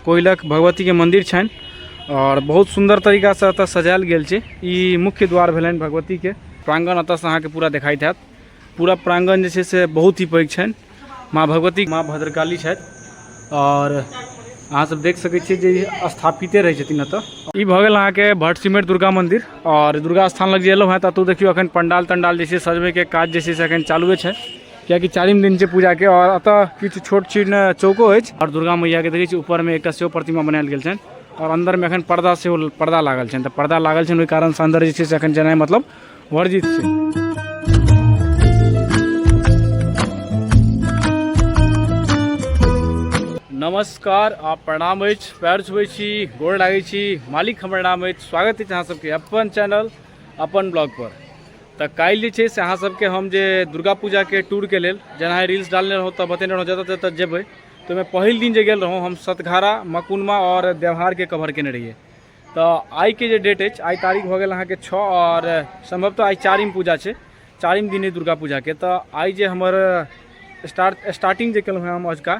कोयलक भगवतीके मन्दिर छनि आओर बहुत सुन्दर तरीकासँ एतऽ सजायल गेल छै ई मुख्य द्वार भेलनि भगवतीके प्राङ्गण एतऽसँ अहाँके पूरा देखाइत हैत पूरा प्राङ्गण जे छै से बहुत ही पैघ छनि माँ भगवती माँ भद्रकाली छथि आओर अहाँसभ देख सकै छियै जे ई स्थापिते रहै छथिन एतऽ ई भऽ गेल अहाँके भट्ट सिमर दुर्गा मन्दिर आओर दुर्गा स्थान लग जे एलहुँ हेँ तऽ एतहु देखियौ एखन पण्डाल तण्डाल जे छै सजबैके काज जे छै से एखन चालुए छै कियाकि चारिम दिन छै पूजाके आओर एतऽ किछु छोट छीन चौको अछि आओर दुर्गा मैयाके देखै छी ऊपरमे एकटा सेहो प्रतिमा बनायल गेल छनि आओर अन्दरमे एखन पर्दा सेहो पर्दा लागल छनि तऽ पर्दा लागल छनि ओहि कारणसँ अन्दर जे छै से एखन जेनाइ मतलब वर्जित छै नमस्कार आ प्रणाम अछि पैर छुबै छी गोर लागै छी मालिक हमर नाम अछि स्वागत अछि अहाँ सबके अपन चैनल अपन ब्लॉग पर तऽ काल्हि जे छै से अहाँ सबके हम जे दुर्गा पूजाके टूरके लेल जेना रील्स डालने रहौँ तऽ बतेने रहौँ जतऽ जतऽ जेबै तऽ ओहिमे पहिल दिन जे गेल रहौँ हम सतघारा मकुनमा आओर देवहारके कवर केने रहिए तऽ आइके जे डेट अछि आइ तारीख भऽ गेल अहाँके छओ आओर सम्भवतः आइ चारिम पूजा छै चारिम दिन अइ दुर्गा पूजाके तऽ आइ जे हमर स्टार्ट स्टार्टिंग जे केलहुँ हँ हम अजुका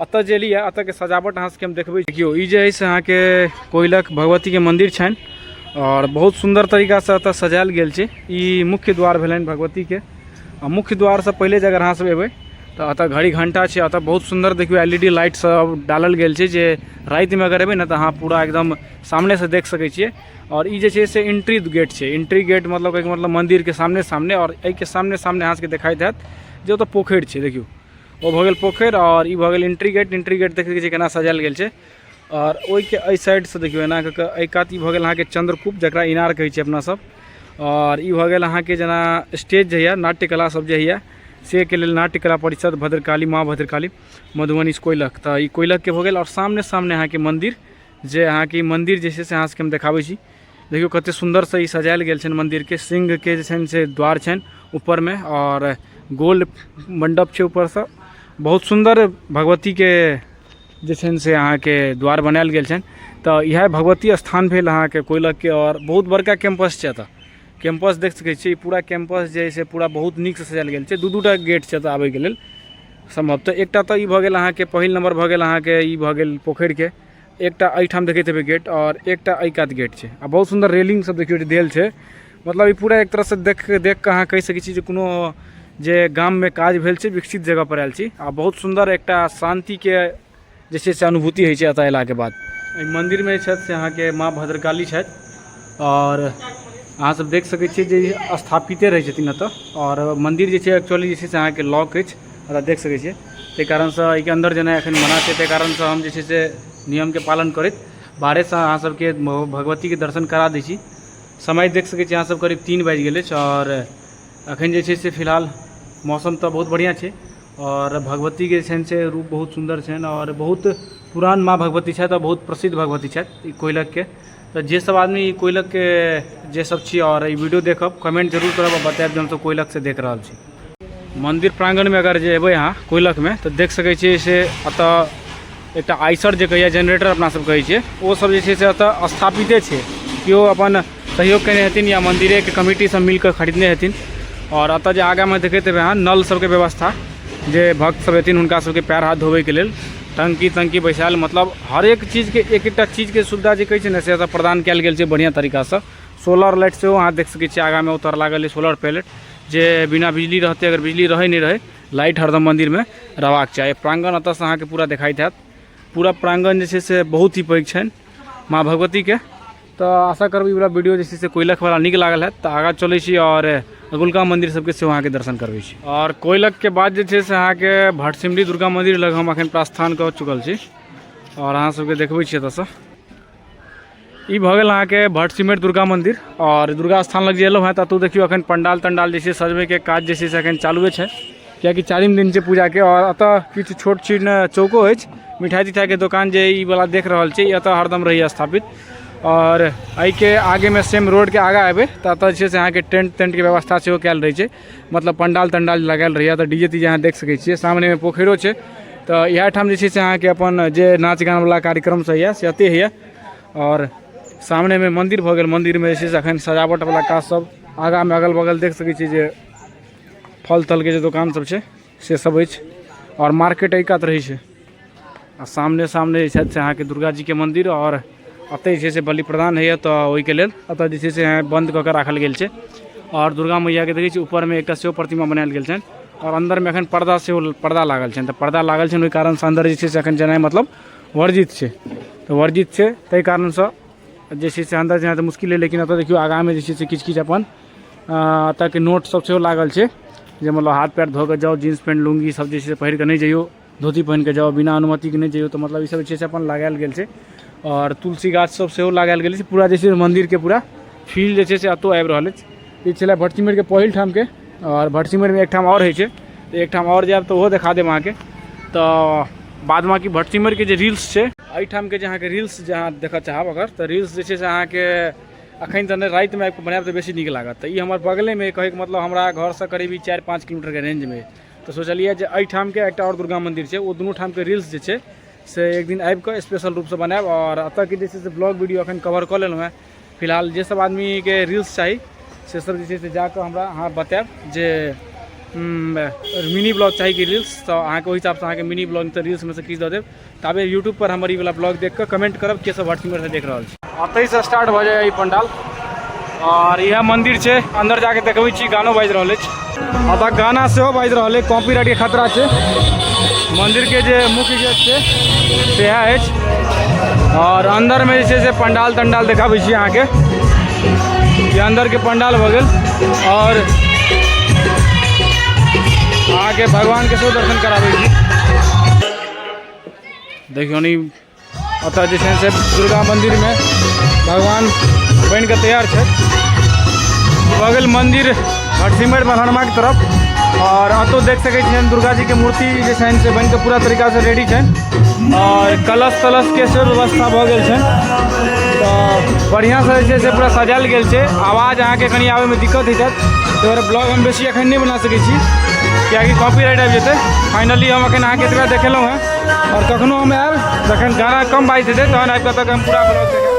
अतः जे एलियै अतः के सजावट अहाँ सबके हम देखबै देखियौ ई जे है से अहाँ के कोयलक भगवती के मंदिर छनि और बहुत सुंदर तरीका से अतः सजायल गेल छै ई मुख्य द्वार भेलनि भगवती के आ मुख्य द्वार से पहिले जे अगर अहाँ सब एबै तऽ अतः घड़ी घंटा छै अतः बहुत सुंदर देखियौ एल ई डी लाइट सब डालल गेल छै जे राति में अगर एबै ने तऽ अहाँ पूरा एकदम सामने से देख सकै छियै और ई जे छै से एंट्री गेट छै एंट्री गेट मतलब कहैके मतलब मंदिर के सामने सामने और एहि के सामने सामने अहाँ सबके देखाइत हैत जे ओतऽ पोखरि छै देखियौ ओ भऽ गेल पोखरि आओर ई भऽ गेल एंट्री गेट एंट्री गेट देख सकै छियै केना सजायल गेल छै आओर ओहिके एहि साइडसँ देखियौ एना कऽ कऽ एहि कात ई भऽ गेल अहाँके चंद्रकूप जकरा इनार कहै छै अपना सब आओर ई भऽ गेल अहाँके जेना स्टेज जे होइए नाट्य कला सब जे होइए से के लेल नाट्य कला परिषद भद्रकाली माँ भद्रकाली मधुबनी कोइलक तऽ ई कोइलकके भऽ गेल आओर सामने सामने अहाँके मन्दिर जे अहाँके ई मन्दिर जे छै से अहाँ सबके हम देखाबै छी देखियौ कतेक सुन्दरसँ ई सजायल गेल छनि मन्दिरके सिंहके जे छनि से द्वार छनि ऊपरमे आओर गोल मण्डप छै ऊपरसँ बहुत सुन्दर भगवतीके जे छनि से अहाँके द्वार बनायल गेल छनि तऽ इएह भगवती स्थान भेल अहाँके कोइलखके आओर बहुत बड़का कैम्पस छै एतऽ कैम्पस देख सकै छियै ई पूरा कैम्पस जे है से पूरा बहुत नीकसँ सजायल गेल छै दू दू टा गेट छै एतऽ आबैके लेल सम्भवतः एकटा तऽ ई भऽ गेल अहाँके पहिल नम्बर भऽ गेल अहाँके ई भऽ गेल पोखरिके एकटा एहिठाम देखैत हेबै गेट आओर एकटा एहि कात गेट छै आ बहुत सुन्दर रेलिंग सब देखियौ जे देल छै मतलब ई पूरा एक तरहसँ देख देख कऽ अहाँ कहि सकै छी जे कोनो जे गाममे काज भेल छै विकसित जगह पर आयल छी आ बहुत सुन्दर एकटा शान्तिके जे छै से अनुभूति होइ छै एतऽ अयलाके बाद एहि मन्दिरमे जे छथि से अहाँके माँ भद्रकाली छथि आओर अहाँ सब देख सकै छियै जे स्थापिते रहै छथिन एतऽ आओर मन्दिर जे छै एक्चुअली जे छै से अहाँके लॉक अछि ओकरा देख सकै छियै तै कारणसँ अइके अन्दर जेनाइ एखन मना छै तै कारणसँ हम जे छै से नियमके पालन करैत बाहरेसँ अहाँ सबके भगवतीके दर्शन करा दै छी समय देख सकै छियै अहाँ सब करीब तीन बाजि गेल अछि आओर एखन जे छै से फिलहाल मौसम तऽ बहुत बढ़िआँ छै आओर भगवतीके छनि से रूप बहुत सुन्दर छनि आओर बहुत पुरान माँ भगवती छथि आओर बहुत प्रसिद्ध भगवती छथि ई कोयलखके तऽ जे सब आदमी ई कोयलखके जे सब छी आओर ई वीडियो देखब कमेंट जरूर करब आओर बतायब जे हमसब कोयलखसँ देख रहल छी मन्दिर प्राङ्गणमे अगर जे एबै अहाँ कोयलखमे तऽ देख सकै छियै से एतऽ एकटा आइसर जे कहैए जेनरेटर अपना सब कहै छियै ओ सब जे छै से एतऽ स्थापिते छै केओ अपन सहयोग केने हेथिन या मन्दिरेके कमिटी सब मिलकऽ खरीदने हेथिन आओर एतऽ जे आगाँमे देखैत हेबै अहाँ नल सबके व्यवस्था जे भक्त सब एथिन हुनका सबके पयर हाथ धोबैके लेल टंकी तंकी बैसायल मतलब हर एक चीज के एक एकटा चीज के सुविधा जे कहै छै ने से एतऽ प्रदान कयल गेल छै बढ़िया तरीका से सोलर लाइट सेहो अहाँ देख सकै छियै आगा में उतर लागल है सोलर पैलेट जे बिना बिजली रहते अगर बिजली रहे नहीं रहे लाइट हरदम मंदिर में रहबाक चाही प्रांगण अतः से अहाँ के पूरा देखाई देत पूरा प्रांगण जे छै से बहुत ही पैघ छनि माँ भगवती के तऽ आशा करबै वाला वीडियो जे छै से कोयलक वाला नीक लागल है तऽ आगाँ चलै छी आओर अगुलका मंदिर सबके सेहो अहाँके दर्शन करबै छी आओर कोयलक के बाद जे छै से अहाँके भटसिमरी दुर्गा मंदिर लग हम अखन प्रस्थान कऽ चुकल छी आओर अहाँ सबके देखबै छी एतऽसँ ई भऽ गेल अहाँके भटसिमर दुर्गा मंदिर आओर दुर्गा स्थान लग जे एलहुँ हँ तऽ एतौ देखियौ अखन पंडाल तंडाल जे छै सजबैके काज जे छै से अखन चालुए छै कियाकि चारिम दिन छै पूजाके आओर एतऽ किछु छोट छीट ने चौको अछि मिठाइ तिठाइके दोकान जे ई वाला देख रहल छी एतऽ हरदम रहैए स्थापित आओर एहिके आगेमे सेम रोडके आगाँ एबै तऽ एतऽ जे छै से अहाँके टेंट तेंटके व्यवस्था सेहो कयल रहै छै मतलब पंडाल तंडाल लगायल रहैए तऽ डी जे ती जे अहाँ देख सकै छियै सामनेमे पोखरिओ छै तऽ इएह ठाम जे छै से अहाँके अपन जे नाच गानवला कार्यक्रम सब होइए से एतहि होइए आओर सामनेमे मन्दिर भऽ गेल मन्दिरमे जे छै से एखन सजावटवला काज सब आगाँमे अगल बगल देख सकै छियै जे फल तलके जे दोकान सब छै से सब अछि आओर मार्केट एहि कात रहै छै आ सामने सामने जे छथि से अहाँके दुर्गा जीके मन्दिर आओर एतहि जे छै से बलि प्रदान होइए तऽ ओहिके लेल एतऽ जे छै से बन्द कऽ कऽ राखल गेल छै आओर दुर्गा मैयाके देखै छी ऊपरमे एकटा सेहो प्रतिमा बनायल गेल छनि आओर अन्दरमे एखन पर्दा सेहो पर्दा लागल छनि तऽ पर्दा लागल छनि ओहि कारणसँ अन्दर जे छै से एखन जेनाइ मतलब वर्जित छै तऽ वर्जित छै ताहि कारणसँ जे छै से अन्दर जेनाइ तऽ मुश्किल अइ लेकिन एतऽ देखियौ आगाँमे जे छै से किछु किछु अपन अ एतऽ के नोट सब सेहो लागल छै जे मतलब हाथ पैर धो कऽ जाउ जींस पेंट लुंगी सब जे छै से पहिर कऽ नहि जइयौ धोती पहिन कऽ जाउ बिना अनुमति के नहि जइयौ तऽ मतलब ई सब जे छै से अपन लगायल गेल छै आओर तुलसी गाछ सब सेहो लगायल गेल छै पूरा जे छै मंदिर के पूरा फील्ड जे छै से एतौ आबि रहल अछि ई छलै भटसिमर के पहिल ठाम के आओर भटसिमर मे एकठाम आओर होइ छै तऽ एकठाम आओर जायब तऽ ओहो देखा देब अहाँके तऽ बाद बाकी भटसिमर के जे रील्स छै एहिठाम के जे अहाँके रील्स जे अहाँ देखऽ चाहब अगर तऽ रील्स जे छै से अहाँके अखन तऽ नहि रातिमे आबि कऽ बनायब तऽ बेसी नीक लागत तऽ ई हमर बगलेमे कहैके मतलब हमरा घरसँ करीब ई चारि पाँच किलोमीटरके रेंजमे तऽ सोचलियै जे एहिठामके एकटा आओर दुर्गा मन्दिर छै ओ दुनू ठामके रील्स जे छै से एक दिन आबि कऽ स्पेशल रूपसँ बनायब आओर एतऽके जे छै से ब्लॉग वीडियो अखन कवर कऽ लेलहुँ हेँ फिलहाल जे सब आदमीके रील्स चाही से सब जे छै से जाकऽ हमरा अहाँ बतायब जे मिनी ब्लॉग चाही कि रील्स तऽ अहाँके ओहि हिसाबसँ अहाँके मिनी ब्लॉग तऽ रील्समे से किछु दऽ देब ताबे यूट्यूब पर हमर ई वाला ब्लॉग देख कऽ कमेंट करब के सब व्हाट्सएप से देख रहल छी एतहि से स्टार्ट भऽ जाइए ई पंडाल और यह मंदिर छै अंदर जाके देखबै छी गानो बाजि रहल अछि अतः गाना सेहो बाजि रहल अछि कॉपीराइट के खतरा छै मंदिर के जे मुख्य गेट छै सेहा अछि और अंदर में जे छै से पंडाल तंडाल देखाबै छी अहाँके ये अंदर के पंडाल भऽ गेल और अहाँके भगवान के सेहो दर्शन कराबै छी देखियौ नि एतय जे छै से दुर्गा मन्दिरमे भगवान बनि कऽ तैयार छै भऽ गेल मन्दिर हरसिमर बन्हरमाके तरफ आओर एतौ देख सकै छियनि दुर्गा जीके मूर्ति जे छनि से बनि कऽ पूरा तरीकासँ रेडी छनि आओर कलश तलशके से व्यवस्था भऽ गेल छनि तऽ बढ़िआँसँ जे छै से पूरा सजायल गेल छै आवाज अहाँके कनि आबयमे दिक्कत हेतत तोहर ब्लॉग हम बेसी एखन नहीं बना सकै छी किएकि कॉपी राइट आबि जेतै फाइनली हम एखन अहाँके एतबा देखेलहुँ हेँ आओर कखनो हम आयल जखन गाना कम बाजि जेतै तहन आबि कऽ तक हम पूरा ब्लॉग देखेब